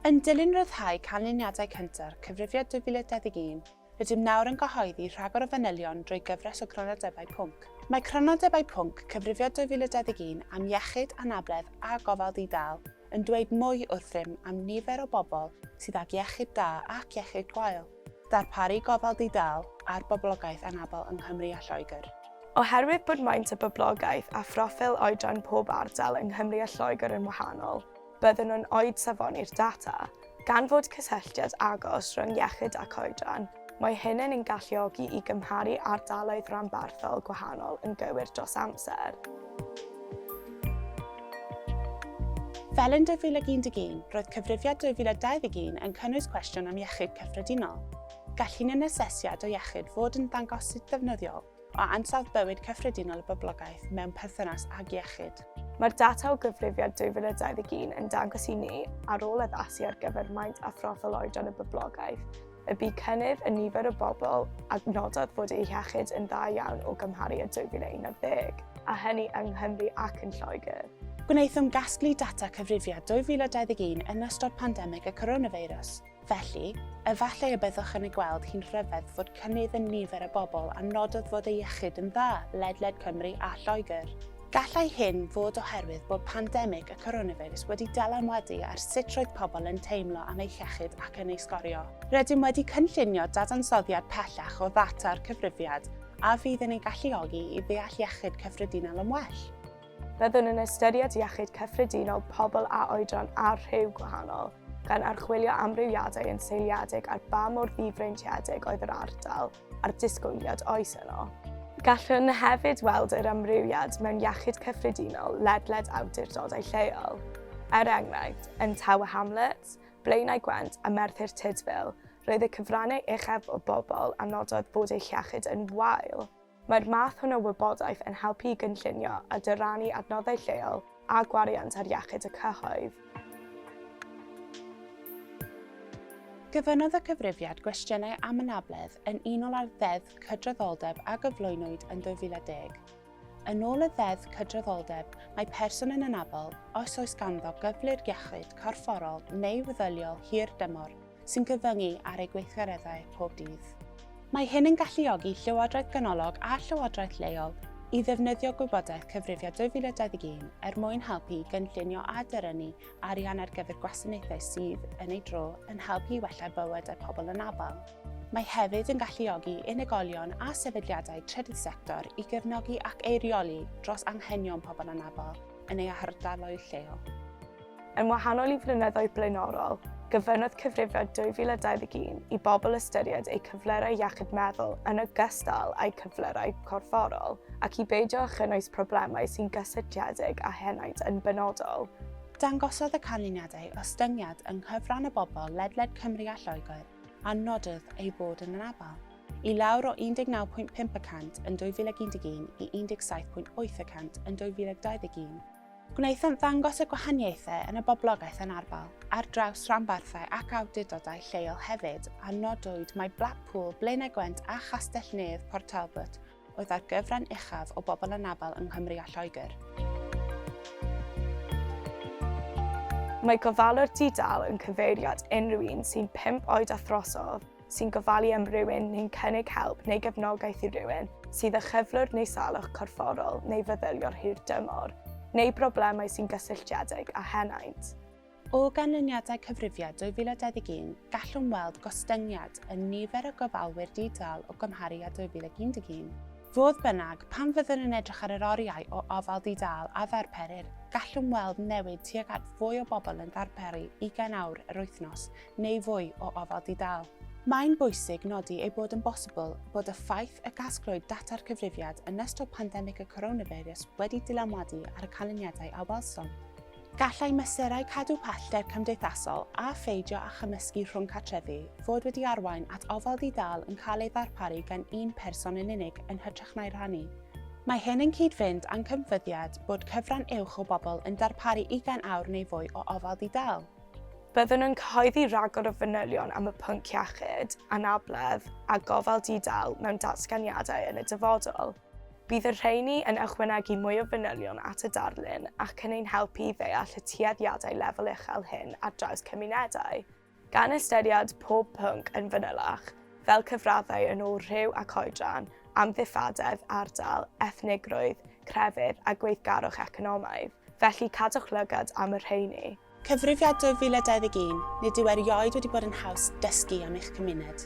Yn dilyn ryddhau canlyniadau cynta'r Cyfrifiad 2021, rydym nawr yn cyhoeddi rhagor o fanylion drwy gyfres o Grynodebau Pwnc. Mae Crynodebau Pwnc Cyfrifiad 2021 am Iechyd, Anabledd a Gofal Di-dâl yn dweud mwy wrth rym am nifer o bobl sydd ag iechyd da ac iechyd gwael. Darparu gofal di-dâl ar boblogaeth anabl yng Nghymru a Lloegr. Oherwydd bod maint y boblogaeth a phroffil oedran pob ardal yng Nghymru a Lloegr yn wahanol, byddwn yn oed safoni'r data. Gan fod cysylltiad agos rhwng iechyd ac oedran, mae hyn yn ein galluogi i gymharu ardaloedd rhanbarthol gwahanol yn gywir dros amser. Fel yn 2011, roedd Cyfrifiad 2021 yn cynnwys cwestiwn am iechyd cyffredinol. Gall un asesiad o iechyd fod yn ddangosydd defnyddiol o ansawdd bywyd cyffredinol y boblogaeth mewn perthynas ag iechyd. Mae'r data o Gyfrifiad 2021 yn dangos i ni, ar ôl addasu ar gyfer maint a phroffil oedran y boblogaeth, y bu cynnydd yn nifer y bobl a nododd fod eu hiechyd yn dda iawn o gymharu â 2011, a hynny yng Nghymru ac yn Lloegr. Gwnaethom gasglu data cyfrifiad 2021 yn ystod pandemig y coronafeirws, felly, efallai y byddwch yn ei gweld hi'n rhyfedd fod cynnydd yn nifer y bobl a nododd fod eu hiechyd yn dda ledled Cymru a Lloegr. Gallai hyn fod oherwydd bod pandemig y coronafeirws wedi dylanwadu ar sut roedd pobl yn teimlo am eu hiechyd ac yn ei sgorio. Rydym wedi cynllunio dadansoddiad pellach o ddata'r cyfrifiad a fydd yn ein galluogi i ddeall iechyd cyffredinol yn well. Byddwn yn ystyried iechyd cyffredinol pobl â oedran a rhyw gwahanol, gan archwilio amrywiadau yn seiliedig ar ba mor ddifreintiedig oedd yr ardal, a'r disgwyliad oes yno. Gallwn hefyd weld yr amrywiad mewn iechyd cyffredinol ledled awdurdodau lleol. Er enghraifft, yn Tower Hamlets, Blaenau Gwent a Merthyr Tudful, roedd y cyfrannau uchaf o bobl a nododd bod eu hiechyd yn wael. Mae'r math hwn o wybodaeth yn helpu i gynllunio a dyrannu adnoddau lleol a gwariant ar iechyd y cyhoedd. Gofynnodd y cyfrifiad gwestiynau am anabledd yn unol â'r Ddeddf Cydraddoldeb a gyflwynwyd yn 2010. Yn ôl y Ddeddf Cydraddoldeb, mae person yn anabl os oes ganddo gyflwr iechyd corfforol neu feddyliol hir dymor sy'n cyfyngu ar eu gweithgareddau pob dydd. Mae hyn yn galluogi llywodraeth ganolog a llywodraeth leol i ddefnyddio gwybodaeth Cyfrifiad 2021 er mwyn helpu i gynllunio a dyrynnu arian ar gyfer gwasanaethau sydd, yn ei dro, yn helpu i wella bywydau pobl anabl. Mae hefyd yn galluogi unigolion a sefydliadau trydydd sector i gefnogi ac eirioli dros anghenion pobl anabl yn eu hardaloedd lleol. Yn wahanol i flynyddoedd blaenorol, gofynnodd cyfrifiad 2021 i bobl ystyried eu cyflyrau iechyd meddwl yn ogystal â'u cyflyrau corfforol ac i beidio â chynnwys problemau sy'n gysylltiedig â henaint yn benodol. Dangosodd y canlyniadau ostyngiad yng nghyfran y bobl ledled Cymru a Lloegr a nododd ei fod yn anabl, i lawr o 19.5 y cant yn 2011 i 17.8 y cant yn 2021. Gwnaethant ddangos y gwahaniaethau yn y boblogaeth anarferol ar draws rhanbarthau ac awdurdodau lleol hefyd, a nodwyd mai Blackpool, Blaenau Gwent a Chastell-nedd Port Talbot oedd â'r gyfran uchaf o bobl anabl yng Nghymru a Lloegr. Mae gofalwr di-dâl yn cyfeiriad unrhyw un sy'n pump oed a throsodd sy'n gofalu am rywun neu'n cynnig help neu gefnogaeth i rywun sydd â chyflwr neu salwch corfforol neu feddyliol hir dymor, neu broblemau sy'n gysylltiedig â henaint. O ganlyniadau cyfrifiad 2021, gallwn weld gostyngiad yn nifer y gofalwyr di-dâl o gymharu â 2011. Fodd bynnag, pan fyddwn yn edrych ar yr oriau o ofal di-dâl a ddarperir, gallwn weld newid tuag at fwy o bobl yn darperu 20 awr yr wythnos neu fwy o ofal di-dâl. Mae'n bwysig nodi ei bod yn bosibl bod y ffaith y gasglwyd data'r cyfrifiad yn ystod pandemig y coronafeirws wedi dylanwadu ar y canlyniadau a welsom. Gallai mesurau cadw pellter cymdeithasol a pheidio â chymysgu rhwng cartrefi fod wedi arwain at ofal di-dâl yn cael ei ddarparu gan un person yn unig yn hytrach na'i rhannu. Mae hyn yn cyd-fynd â'n cymfyddiad bod cyfran uwch o bobl yn darparu ugain awr neu fwy o ofal di-dâl. Byddwn yn cyhoeddi rhagor o fanylion am y pwnc iechyd, anabledd a gofal di-dâl mewn datganiadau yn y dyfodol. Bydd y rheini yn ychwanegu mwy o fanylion at y darlun ac yn ein helpu i ddeall y tueddiadau lefel uchel hyn ar draws cymunedau. Gan ystyried pob pwnc yn fanylach, fel cyfraddau yn ôl rhyw ac oedran, amddifadedd, ardal, ethnigrwydd, crefydd a gweithgarwch economaidd, felly cadwch lygad am y rheini. Cyfrifiad 2021, Nid yw erioed wedi bod yn haws dysgu am eich cymuned.